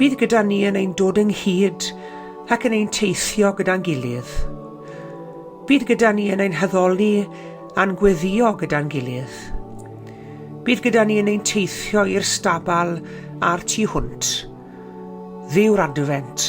Bydd gyda ni yn ein dod ynghyd ac yn ein teithio gyda'n gilydd. Bydd gyda ni yn ein haddoli a'n gweddio gyda'n gilydd. Bydd gyda ni yn ein teithio i'r stabal a'r tu hwnt. Dduw'r Adfent,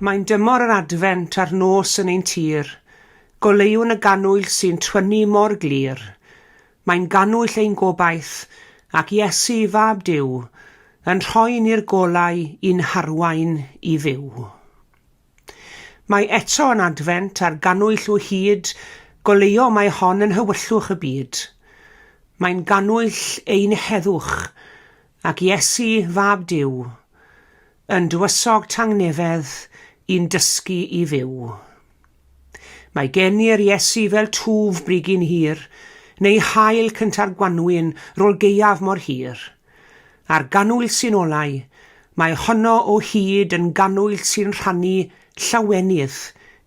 Mae'n dymor yr Adfent a'r nos yn ein tir, Goleuwn y gannwyll sy'n twynnu mor glir. Mae'n gannwyll ein gobaith, ac Iesu, Fab Duw, Yn rhoi ni'r golau i'n harwain i fyw. Mae eto yn Adfent, a'r gannwyll o hyd, Goleuo mae hon yn nhywyllwch y byd. Mae'n gannwyll ein heddwch, Ac Iesu, Fab Duw, yn dywysog tangnefedd i'n dysgu i fyw. Mae gen i'r Iesu fel twf brigyn hir, neu haul cynta'r gwanwyn rol gaeaf mor hir. A'r ganwyll sy'n olau, mae honno o hyd yn ganwyll sy'n rhannu llawenydd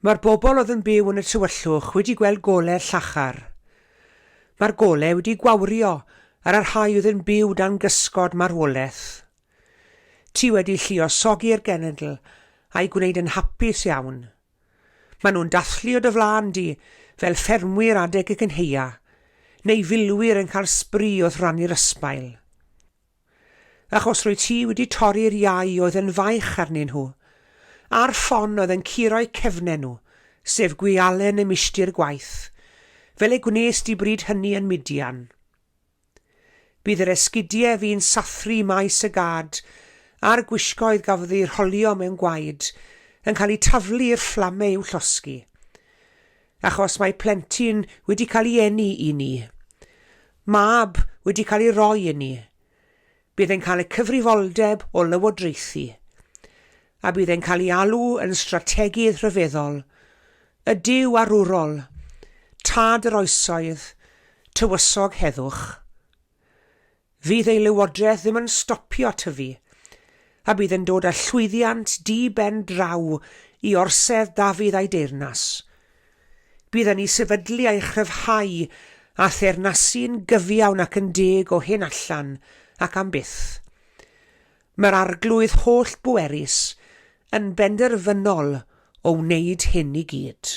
Mae'r bobl oedd yn byw yn y tywyllwch wedi gweld golau llachar. Mae'r golau wedi gwawrio ar y rhai oedd yn byw dan gysgod marwolaeth. Ti wedi lluosogi'r genedl a'i gwneud yn hapus iawn. Maen nhw'n dathlu o dy flaen di fel ffermwyr adeg y cynheia, neu filwyr yn cael sbri wrth rannu'r ysbail. Achos rwyt ti wedi torri'r iau oedd yn faich arnyn nhw, a'r ffon oedd yn curo'u cefnen nhw, sef gwialen y milltir gwaith, fel y gwnes di bryd hynny yn Midian. Bydd yr esgidiau fu'n sathru maes y gad, a'r gwisgoedd gafodd eu rholio mewn gwaed, yn cael eu taflu i'r fflamau i'w llosgi. Achos mae plentyn wedi cael ei eni i ni. Mab wedi cael ei roi i ni. Bydd e'n cael y cyfrifoldeb o lywodraethu. A bydd e'n cael ei alw yn strategydd rhyfeddol, y Duw arwrol, Tad yr Oesoedd, Tywysog Heddwch. Fydd ei lywodraeth ddim yn stopio tyfu, a bydd yn dod â llwyddiant di-ben draw i orsedd Dafydd a'i deyrnas. Bydd yn ei sefydlu a'i chryfhau â theyrnasu'n gyfiawn ac yn deg o hyn allan ac am byth. Mae'r Arglwydd holl-bwerus yn benderfynol o wneud hyn i gyd.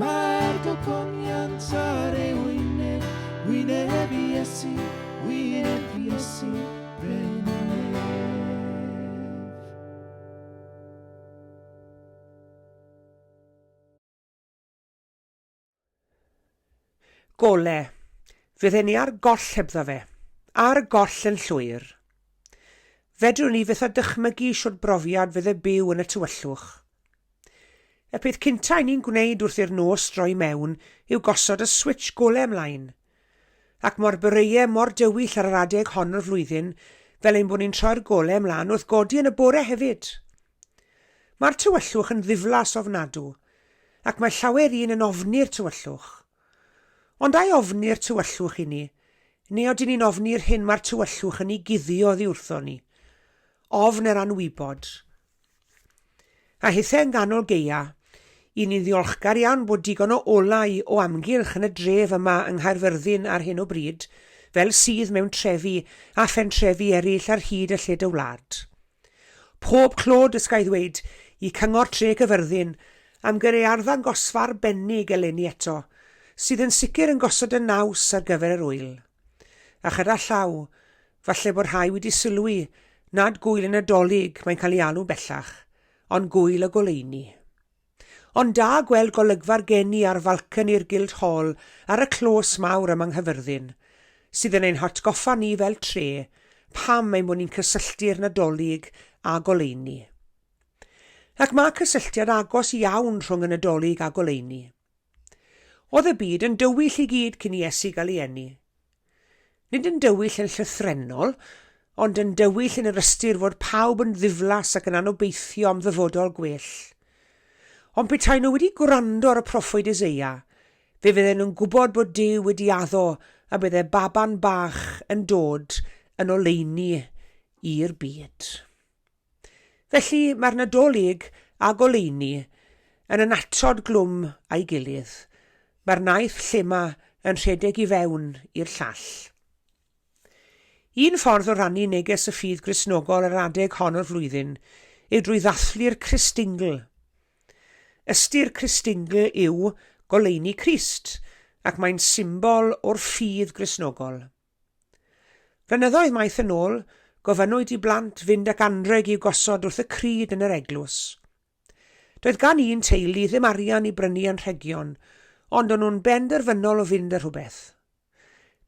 Mae'r gogoniant ar ei wyneb, wyneb Iesu, wyneb Iesu, brenin Gole, fydden ni ar goll hebddo fe. Ar goll yn llwyr. Fedrwn ni fyth a dychmygu shwt brofiad fydde byw yn y tywyllwch. Y peth cynta' i ni'n gwneud wrth i'r nos droi mewn yw gosod y switsh gole mlaen. Ac mo'r boreau mor dywyll ar yr adeg hon o'r flwyddyn, fel ein bod ni'n troi'r gole mlaen wrth godi yn y bore hefyd! Mae'r tywyllwch yn ddiflas ofnadw, ac mae llawer un yn ofni'r tywyllwch. Ond ai ofni'r tywyllwch i ni, neu odyn ni'n ofni'r hyn mae'r tywyllwch yn ei guddio oddi wrthon ni? Ofn yr anwybod, A hithau yn ganol geia, i ni'n ddiolchgar iawn bod digon o olau o amgylch yn y dref yma yng Nghaerfyrddin ar hyn o bryd, fel sydd mewn trefi a phentrefi eraill ar hyd y lled y wlad. Pob clod, os ga i ddweud, i Cyngor Tre Cyfyrddin am gyrru ei arddangosfa arbennig eleni eto, sydd yn sicr yn gosod y naws ar gyfer yr ŵyl. A chyda llaw, Falle bod rhai wedi sylwi nad gŵyl y Nadolig mae'n cael ei alw bellach, ond gŵyl y goleuni. Ond da gweld golygfa'r geni ar falconi'r Guildhall ar y clos mawr yma yng Nghyfyrddin, sydd yn ein hatgoffa ni fel tre pam ein bod ni'n cysylltu'r Nadolig â goleuni. Ac mae cysylltiad agos iawn rhwng y Nadolig a goleuni. Oedd y byd yn dywyll i gyd cyn i Iesu gael ei eni. Nid yn dywyll yn llythrennol, ond yn dywyll yn yr ystyr fod pawb yn ddiflas ac yn anobeithio am ddyfodol gwell. Ond petai nhw wedi gwrando ar y proffwyd Eseia, fe fydden nhw'n gwybod bod Duw wedi addo y bydde baban bach yn dod yn oleuni i'r byd. Felly, mae'r Nadolig a goleuni yn annatod glwm a'i gilydd. Mae'r naeth llema yn rhedeg i fewn i'r llall. Un ffordd o rannu neges y ffydd Gristnogol yr adeg hon o'r flwyddyn yw drwy ddathlu'r Christingl. Ystyr Christingl yw goleuni Crist, ac mae'n symbol o'r ffydd Gristnogol. Flynyddoedd maith yn ôl, gofynnwyd i blant fynd ac anrheg i'w gosod wrth y crud yn yr eglwys. Doedd gan un teulu ddim arian i brynu anrhegion, ond o'n nhw'n benderfynol o fynd â rhywbeth.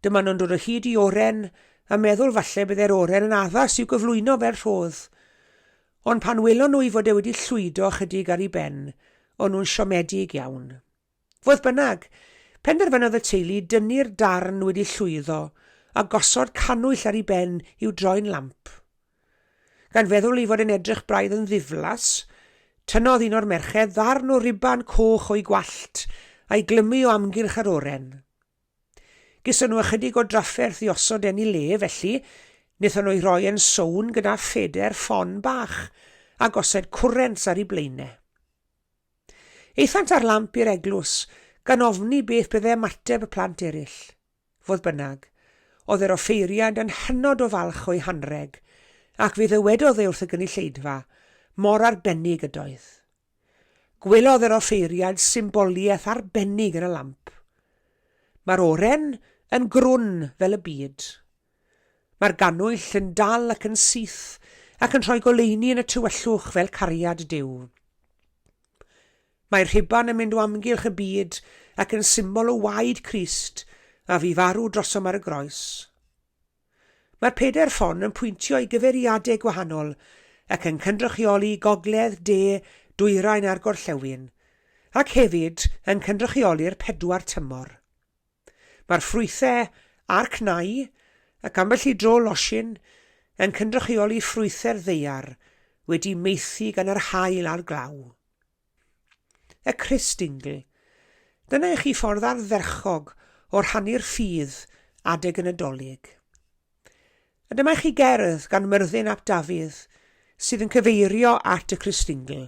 Dyma nhw'n dod o hyd i oren, a meddwl falle byddai'r oren yn addas i'w gyflwyno fel rhodd. Ond pan welon nhw ei fod e wedi llwydo ychydig ar ei ben, o'n nhw'n siomedig iawn. Fodd bynnag, penderfynodd y teulu dynnu'r darn wedi llwyddo a gosod cannwyll ar ei ben i'w droi'n lamp. Gan feddwl ei fod e'n edrych braidd yn ddiflas, tynnodd un o'r merched ddarn o ruban coch o'i gwallt a'i glymu o amgylch yr oren. Geson nhw ychydig o drafferth i osod e'n ei le, felly, wnaethon nhw'i roi yn sownd gyda phedair ffon bach a gosod cwrent ar ei blaenau. Aethant â'r lamp i'r eglwys, gan ofni beth bydde ymateb y plant eraill. Fodd bynnag, oedd yr offeiriad yn hynod o falch o'i hanrheg, ac fe ddywedodd e wrth y gynulleidfa, mor arbennig ydoedd. Gwelodd yr offeiriad symboliaeth arbennig yn y lamp. Mae'r oren yn grwn fel y byd, Mae'r gannwyll yn dal ac yn syth, ac yn rhoi goleuni yn y tywyllwch fel cariad Duw. Mae'r rhuban yn mynd o amgylch y byd ac yn symbol o waed Crist a fu farw drosom ar y groes. Mae'r pedair ffon yn pwyntio i gyfeiriadau gwahanol ac yn cynrychioli gogledd, de, dwyrain a'r gorllewin, ac hefyd yn cynrychioli'r pedwar tymor. Mae'r ffrwythau a'r cnau, ac ambell i dro losin, yn cynrychioli ffrwythau'r ddaear wedi maethu gan yr haul a'r glaw. Y Christingle. Dyna i chi ffordd ardderchog o rhannu'r ffydd adeg y Nadolig. A dyma i chi gerdd gan Myrddin ap Dafydd sydd yn cyfeirio at y Christingle.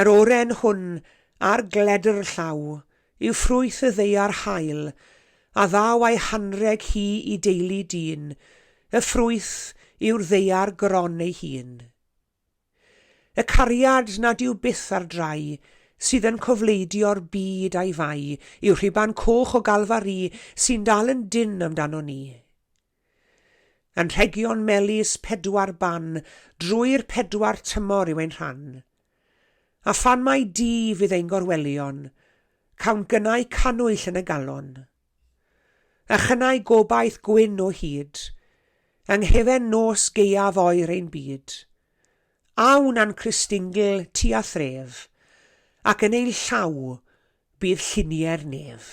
Yr oren hwn ar gledr llaw yw ffrwyth y ddaear hael a ddaw a'i hanrheg hi i deulu dyn, y ffrwyth yw'r ddaear gron ei hun. Y cariad nad yw byth ar drai, sydd yn cofleidio'r byd a'i fai, yw rhuban coch o Galfari sy'n dal yn dynn amdanon ni. Anrhegion melys pedwar ban drwy'r pedwar tymor yw ein rhan. A phan mai di fydd ein gorwelion, cawn gynnau cannwyll yn y galon. A chynnau gobaith gwyn o hyd, yng nghefen nos gaeaf oer ein byd. A wna'n Cristingl tua thref, ac yn ei llaw bydd lluniau'r nef.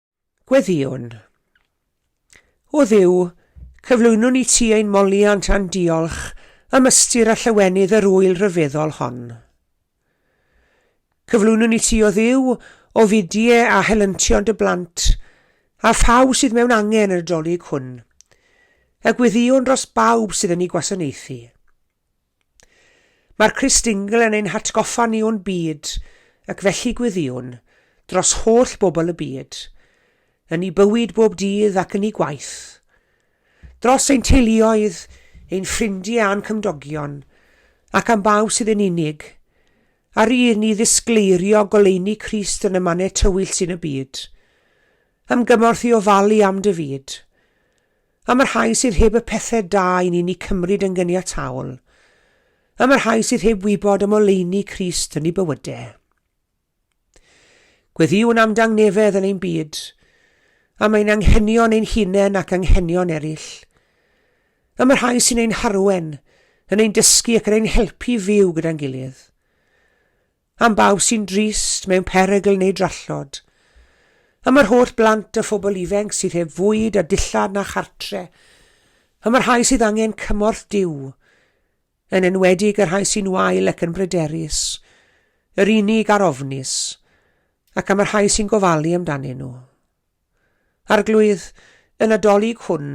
Gweddïwn. O Dduw, cyflwynwn i ti ein moliant a'n diolch am ystyr a llawenydd yr wyl rhyfeddol hon. Cyflwynwn i ti, o Dduw, o fidie a helyntion dy blant, a phawb sydd mewn angen yr adolyg hwn, a gweddïwn dros bawb sydd yn ei gwasanaethu. Mae'r Cristnigl yn ein hatgoffa ni o'n byd, ac felly gweddïwn, dros holl bobl y byd, yn ei bywyd bob dydd ac yn ei gwaith, dros ein teuluoedd, ein ffrindiau a'n cymdogion, ac am bawb sydd yn unig, a rydd ni ddisgleirio goleuni Crist yn y mannau tywyll sy'n y byd. Am gymorth i ofalu am dy fyd. Am y rhai sydd heb y pethau da i ni'n eu cymryd yn gyniataol. Am y rhai sydd heb wybod am oleuni Crist yn eu bywydau. Gweddïwn am dangnefedd yn ein byd, am ein anghenion ein hunain ac anghenion eraill. Am y rhai sy'n ein harwen, yn ein dysgu ac yn ein helpu fyw gyda'n gilydd. am bawb sy'n drist, mewn perygl neu drallod, am yr holl blant a phobl ifenc sydd heb fwyd a dillad na chartre, am y rhai sydd angen cymorth Duw, yn enwedig y rhai sy'n wael ac yn bryderus, yr unig a'r ofnus, ac am y rhai sy'n gofalu amdanyn nhw. Arglwydd, y Nadolig hwn,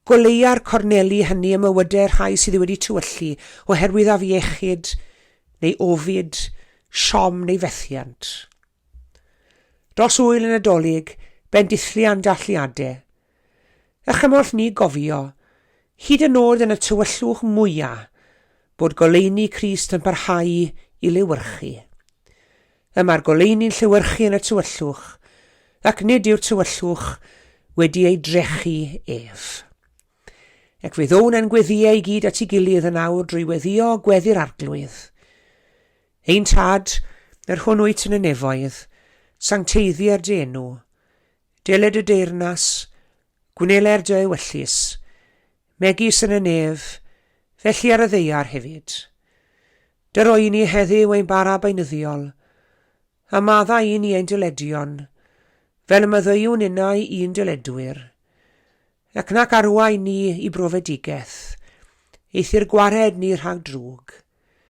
goleua'r corneli hynny ym mywydau rhai sydd wedi tywyllu oherwydd afiechyd, neu ofid, siom neu fethiant. Dros wyl y Nadolig, bendithliau am dathliadau. A chymorth ni gofio, hyd yn nod yn y tywyllwch mwyaf, bod goleuni Crist yn parhau i lewyrchu. y mae'r goleuni'n llewyrchu yn y tywyllwch, ac nid yw'r tywyllwch wedi ei drechu ef. Ac fe ddown yn gweddiau i gyd at ei gilydd yn awr drwy weddio gweddi'r arglwydd. Ein tad, yr hwn wyt yn y nefoedd, sancteiddier dy enw. Deled y deyrnas, Gwneler dy ewyllys, megis yn y nef, felly ar y ddeiar hefyd. Dy roi i ni heddyw ein bara beunyddiol, a maddau i ni ein dyledion, fel y maddeuwn innau i'n dyledwyr. Ac nac arwai ni i brofedigaeth, eithr gwared ni rhag drwg.